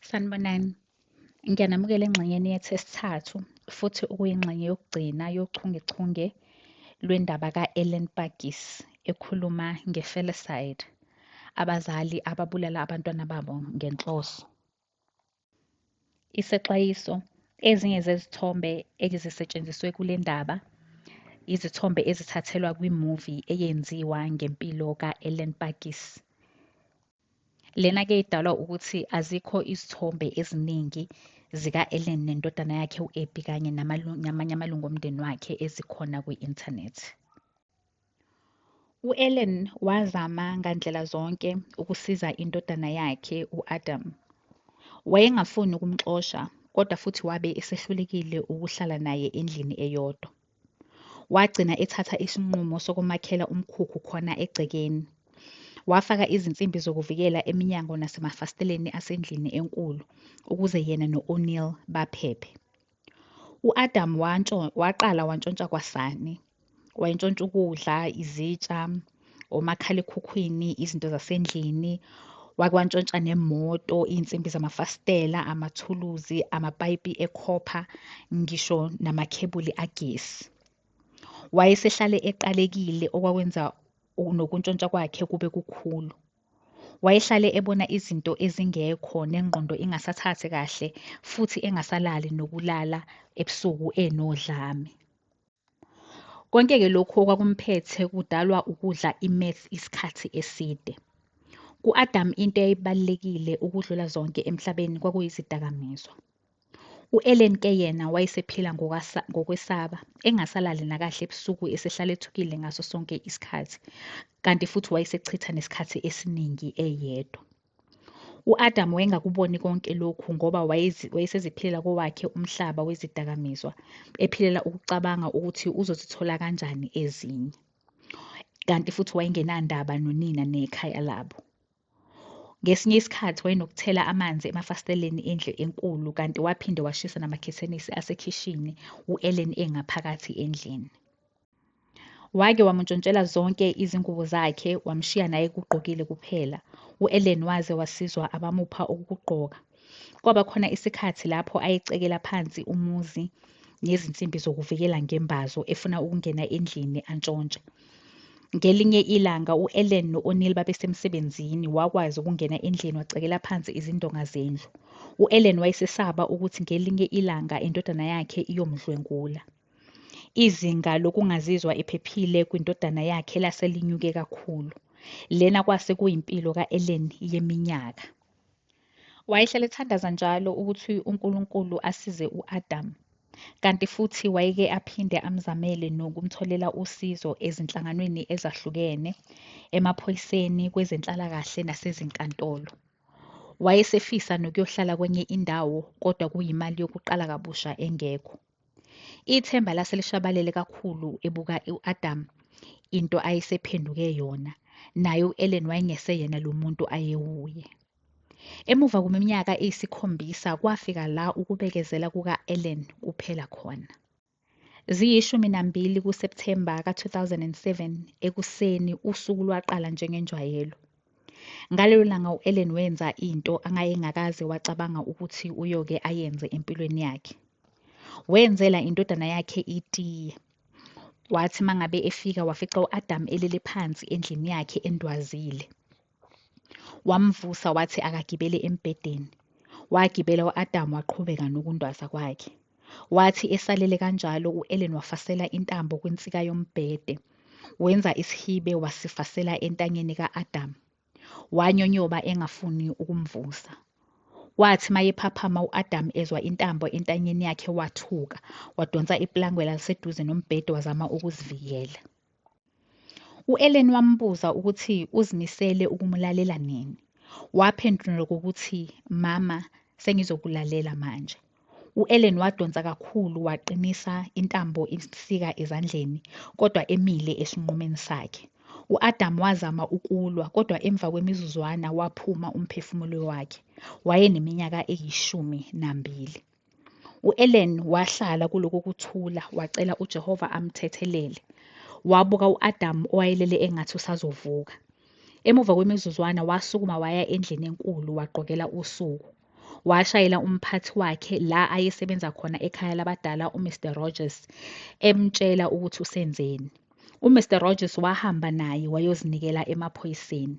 Sanibonani. Ngiyanamukela engxenyeni yethu esithathu futhi okuyingxenye yokugcina yochungechunge lwendaba ka-Ellen Pagis ekhuluma nge-felicide, abazali ababulala abantwana babo ngenhloso. Isexwayiso, ezinye zezithombe ezisetshenziswe kule ndaba izithombe ezithathelwa kwi-movie eyenziwa ngempilo ka-Ellen Pagis. Lena ke idalwa ukuthi azikho izithombe eziningi zika-Ellen nendodana yakhe u-Abby kanye namanye amalungu omndeni wakhe ezikhona kwi-internet. U-Ellen wazama ngandlela zonke ukusiza indodana yakhe u-Adam. Wayengafuni ukumxosha kodwa futhi wabe esehlulekile ukuhlala naye endlini eyodwa. Wagcina ethatha isinqumo sokumakhela umkhukhu khona egcekeni. Wafaka izinsimbi zokuvikela eminyango nasemafasiteleni asendlini enkulu ukuze yena no-O'Neill baphephe. U-Adam waqala wantshontsha kwasani. Wayentshontsha ukudla, izitsha, omakhalekhukhwini izinto zasendlini wake wantshontsha nemoto iy'nsimbi zamafasitela amathuluzi amapayipi ekhopha ngisho namakhebuli agesi wayesehlale eqalekile okwakwenza nokuntshontsha kwakhe kube kukhulu wayehlale ebona izinto ezingekho nengqondo ingasathathi kahle futhi engasalali nokulala ebusuku enodlame Konke-ke lokhu okwakumphethe kudalwa ukudla i-meth isikhathi eside. Ku-Adam into eyayibalulekile ukudlula zonke emhlabeni kwakuyizidakamizwa. U-Ellen ke yena wayesephila ngokwesaba, engasalali nakahle ebusuku esehlala ethukile ngaso sonke isikhathi, kanti futhi wayesechitha nesikhathi esiningi eyedwa. U-Adamu wayengakuboni konke lokhu ngoba wayeseziphilela kowakhe umhlaba wezidakamizwa, ephilela ukucabanga ukuthi uzozithola kanjani ezinye. Kanti futhi wayengenandaba nonina nekhaya labo. Ngesinye isikhathi wayenokuthela amanzi emafasiteleni endle enkulu kanti waphinde washisa namakhethenisi asekhishini u-Ellen engaphakathi endlini. Wake wamuntshontshela zonke izingubo zakhe wamshiya naye kugqokile kuphela. U-Ellen waze wasizwa abamupha okukugqoka. Kwaba khona isikhathi lapho ayecekela phansi umuzi ngezinsimbi zokuvikela ngembazo efuna ukungena endlini antshontshe. Ngelinye ilanga u-Ellen no-O'Neill babesemsebenzini wakwazi ukungena endlini wacekela phansi izindonga zendlu. U-Ellen wayesesaba ukuthi ngelinye ilanga indodana yakhe iyomdlwengula. Izinga lokungazizwa ephephile kwindodana yakhe lase linyuke kakhulu. Lena kwase kuyimpilo ka-Ellen yeminyaka. Wayehlale ethandaza njalo ukuthi uNkulunkulu asize u-Adam, kanti futhi wayeke aphinde amzamele nokumtholela usizo ezinhlanganweni ezahlukene, emaphoyiseni, kwezenhlalakahle nasezinkantolo. Wayesefisa nokuyohlala kwenye indawo kodwa kuyimali yokuqala kabusha engekho. Ithemba lase lishabalele kakhulu ebuka u-Adam into ayesephenduke yona, naye u-Ellen wayengese-yena lo muntu ayewuye. Emuva kweminyaka eyisikhombisa kwafika la ukubekezela kuka-Ellen kuphela khona. Ziyishumi nambili kuSepthemba ka-2007 ekuseni usuku lwaqala njengenjwayelo. Ngalelo langa u-Ellen wenza into angayengakaze wacabanga ukuthi uyoke ayenze empilweni yakhe. Wenzela indodana yakhe itiye. Wathi mangabe efika wafica u-Adam elele phansi endlini yakhe endwazile. Wamvusa wathi akagibele embhedeni. Wagibela u-Adam waqhubeka nokundwaza kwakhe. Wathi esalele kanjalo u-Ellen wafasela intambo kwinsika yombhede. Wenza isihibe wasifasela entanyeni ka-Adamu. Wanyonyoba engafuni ukumvusa. Wathi mayephaphama u-Adamu ezwa intambo entanyeni yakhe wathuka, wadonsa iplangwe laliseduze nombhede wazama ukuzivikela. U-Ellen wambuza ukuthi uzimisele ukumulalela nini. Waphendula ngokuthi, Mama, sengizokulalela manje. U-Ellen wadonsa kakhulu waqinisa intambo imsika ezandleni, kodwa emile esinqumeni sakhe. U-Adamu wazama ukulwa, kodwa emva kwemizuzwana waphuma umphefumulo wakhe. Wayeneminyaka eyishumi nambili. U-Ellen wahlala kuloko kuthula wacela uJehova amthethelele. Wabuka u-Adamu owayelele engathi usazovuka. Emuva kwemizuzwana wasukuma waya endlini enkulu wagqokela usuku. Washayela umphathi wakhe la ayesebenza khona ekhaya labadala uMr Rogers emtshela ukuthi usenzeni. UMr Rogers wahamba naye wayozinikela emaphoyiseni.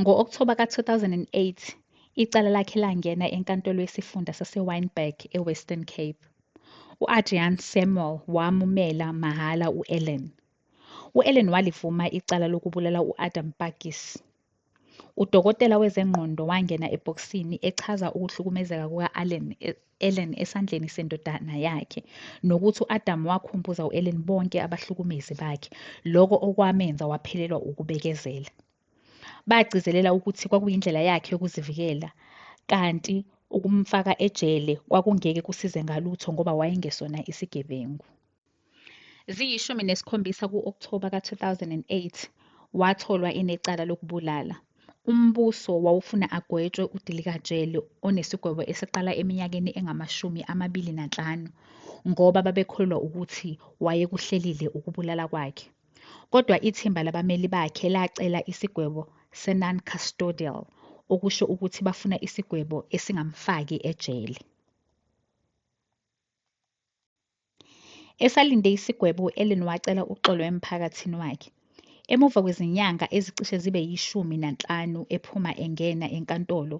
Ngo-Okthoba ka-2008, icala lakhe langena eNkantolo yesiFunda saseWynberg eWestern Cape. U-Adrian Samuel wamumela mahhala u-Ellen. U-Ellen walivuma icala lokubulala u-Adam Pakis. Udokotela wezengqondo wangena ebhokisini echaza ukuhlukumezeka kuka-Allen e- Ellen esandleni sendodana yakhe, nokuthi u-Adamu wakhumbuza u-Ellen bonke abahlukumezi bakhe, lokho okwamenza waphelelwa ukubekezela. Bagcizelela ukuthi kwakuyindlela yakhe yokuzivikela, kanti ukumfaka ejele kwakungeke kusize ngalutho ngoba wayengesona isigebengu. Ziyishumi nesikhombisa ku-Okthoba ka-2008 watholwa enecala lokubulala. Umbuso wawufuna agwetshwe udilikajele onesigwebo esiqala eminyakeni engamashumi amabili nanhlanu ngoba babekholelwa ukuthi wayekuhlelile ukubulala kwakhe. Kodwa ithimba labameli bakhe lacela isigwebo se-non-custodial, okusho ukuthi bafuna isigwebo esingamfaki ejele. Esalinde isigwebo u-Ellen wacela uxolo emphakathini wakhe. Emuva kwezinyanga ezicishe zibe yishumi nanhlanu ephuma engena enkantolo,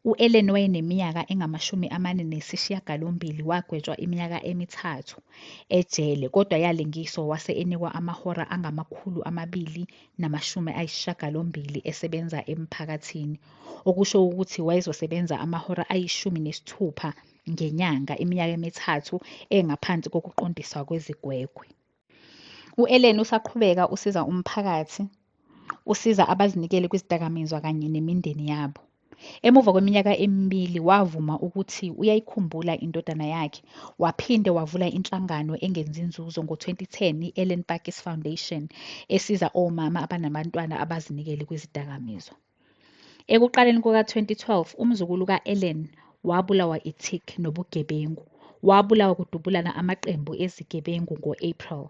u-Ellen wayeneminyaka engamashumi amane nesishiyagalombili wagwetshwa iminyaka emithathu ejele kodwa yalingiswa wase enikwa amahora angamakhulu amabili namashumi ayishiyagalombili esebenza emphakathini, okusho ukuthi wayezosebenza amahora ayishumi nesithupha ngenyanga iminyaka emithathu engaphansi kokuqondiswa kwezigwegwe. U-Ellen usaqhubeka usiza umphakathi, usiza abazinikele kwizidakamizwa kanye nemindeni yabo. Emuva kweminyaka emibili wavuma ukuthi uyayikhumbula indodana yakhe, waphinde wavula inhlangano engenzi inzuzo ngo-2010 i-Ellen Pakkies Foundation esiza omama abanabantwana abazinikele kwizidakamizwa. Ekuqaleni kuka-2012 umzukulu ka-Ellen wabulawa i-tick nobugebengu. Wabulawa kudubulana amaqembu ezigebengu ngo-April.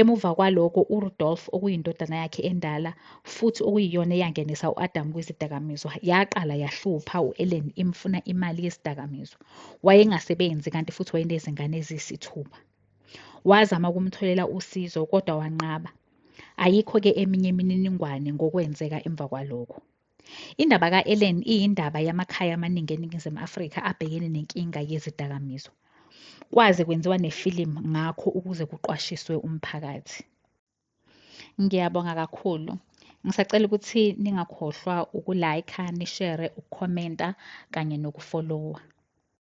Emuva kwaloko uRudolf okuyindodana yakhe endala futhi okuyiyona eyangenisa u-Adam kwizidakamizwa yaqala yahlupha u-Ellen imfuna imali yezidakamizwa. Wayengasebenzi kanti futhi wayenezingane eziyisithupha. Wazama ukumtholela usizo kodwa wanqaba. Ayikho-ke eminye imininingwane ngokwenzeka emva kwalokho. Indaba ka-Ellen iyindaba yamakhaya amaningi eNingizimu Afrika abhekene nenkinga yezidakamizwa. Kwaze kwenziwa nefilimu ngakho ukuze kuqwashiswe umphakathi. Ngiyabonga kakhulu. Ngisacela ukuthi ningakhohlwa uku-like, nishere, ukukhomenta kanye nokufolowa.